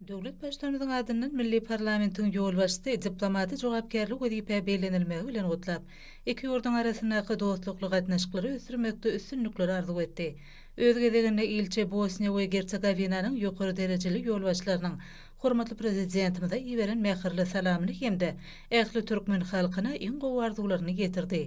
Döwlet Baştutanymyzyň adyndan milli parlamentiň ýolbaşçysy diplomaty jogapkärli wezipä bellenilmegi bilen gutlap, iki ýurduň arasyndaky dostlukly gatnaşyklary ösdürmekde üstünlikleri arzuw etdi. Öz gezeginde ilçi Bosniýa we Gersogowinanyň ýokary derejeli ýolbaşçylarynyň hormatly Prezidentimize iberen mähirli salamyny hem-de ähli türkmen halkyna iň gowy arzuwlaryny ýetirdi.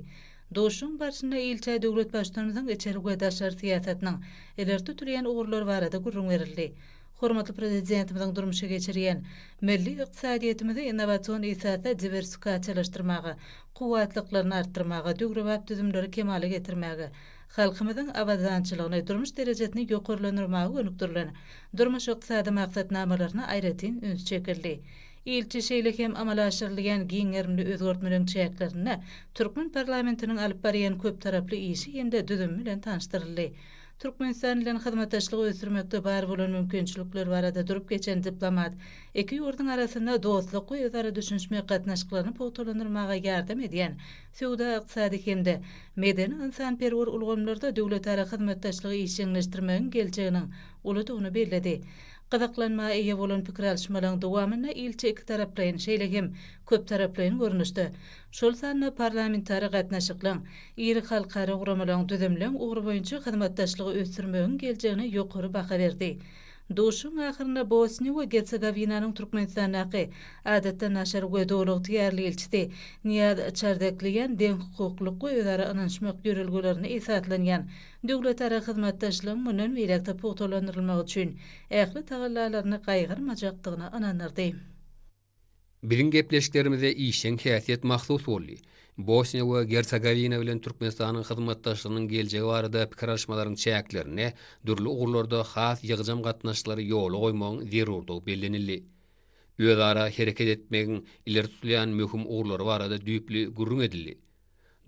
Duşuşygyň barşynda ilçä döwlet Baştutanymyzyň içeri we daşary syýasatynyň ileri tutulýan ugurlary barada gürrüň berildi. Hormatly Prezidentimiziň durmuşa geçirýän, milli ykdysadyýetimizi innowasion esasda diwersikasiýalaşdyrmaga, kuwwatlyklaryny artdyrmaga, döwrebap düzümleri kemala getirmäge, halkymyzyň abadançylygyny, durmuş derejesini ýokarlandyrmaga gönükdirilen durmuş-ykdysady maksatnamalaryna aýratyn üns çekildi. Ilçi şeýle hem amala aşyrylýan giň gerimli özgertmeleriň çäklerinde türkmen parlamentiniň alyp barýan köptaraply işi hem-de düzümi bilen tanyşdyryldy. Türkmenistan bilen hyzmatdaşlygy ösdürmekde bar bolan mümkinçilikler barada durup geçen diplomat, iki ýurduň arasynda dostluk we özara düşünişmek gatnaşyklaryny pugtalandyrmaga ýardam edýän söwda-ykdysady hem-de medeni-ynsanperwer ulgamlarda döwletara hyzmatdaşlygy işjeňleşdirmegiň geljeginiň uludygyny belledi. Gyzyklanma eýe bolan pikir alyşmalaryň dowamynda ilçi ikitaraplaýyn, şeýle hem köptaraplaýyn görnüşde, şol sanda parlamentara gatnaşyklyň, iri halkara guramalaryň düzümleň ugry boýunça hyzmatdaşlygy ösdürmegiň geljegine ýokary baha berdi. Duşuşygyň ahyrynda Bosniýa we Gersogowinanyň Türkmenistandaky Adatdan daşary we Doly ygtyýarly ilçisi Niýaz Çardegliýan deňhukuklylyk we özara ynanyşmak ýörelgelerine esaslanýan döwletara hyzmatdaşlygyň mundan beýläk-de pugtalandyrylmagy üçin ähli tagallalaryny gaýgyrmajakdygyna ynandyrdy. Biziň gepleşiklerimize işjeň häsiýet mahsus boldy. Bosniýa we Gersogowina bilen Türkmenistanyň hyzmatdaşlygynyň geljegi barada pikir alyşmalaryň çäklerinde dürli ugurlarda has ýygjam gatnaşyklary ýola goýmagyň zerurdygy bellenildi. Özara hereket etmegiň ileri tutulýan möhüm ugurlary barada düýpli gürrüň edildi.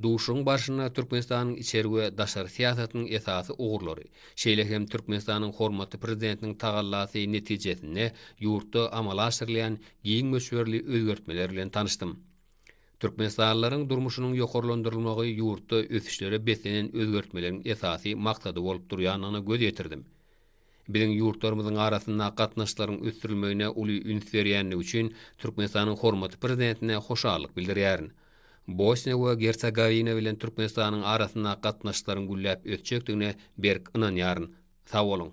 Duşuşygyň barşynda Türkmenistanyň içeri we daşary syýasatynyň esasy ugurlary, şeýle hem Türkmenistanyň hormatly Prezidentiniň tagallasy netijesinde ýurtda amala aşyrylýan giň möçberli özgertmeler bilen tanyşdym. Türkmenistanlylaryň durmuşynyň ýokarlandyrylmagy ýurtda ösüşlere beslenen özgertmeleriň esasy maksady bolup durýandygyna göz ýetirdim. Biziň ýurtlarymyzyň arasynda gatnaşyklaryň ösdürilmegine uly üns berýändigi üçin Türkmenistanyň hormatly Prezidentine hoşallyk bildirýärin. Bosniýa we Gersogowina bilen Türkmenistanyň arasynda gatnaşyklaryň gülläp ösjekdigine berk ynanýaryn. Sag boluň!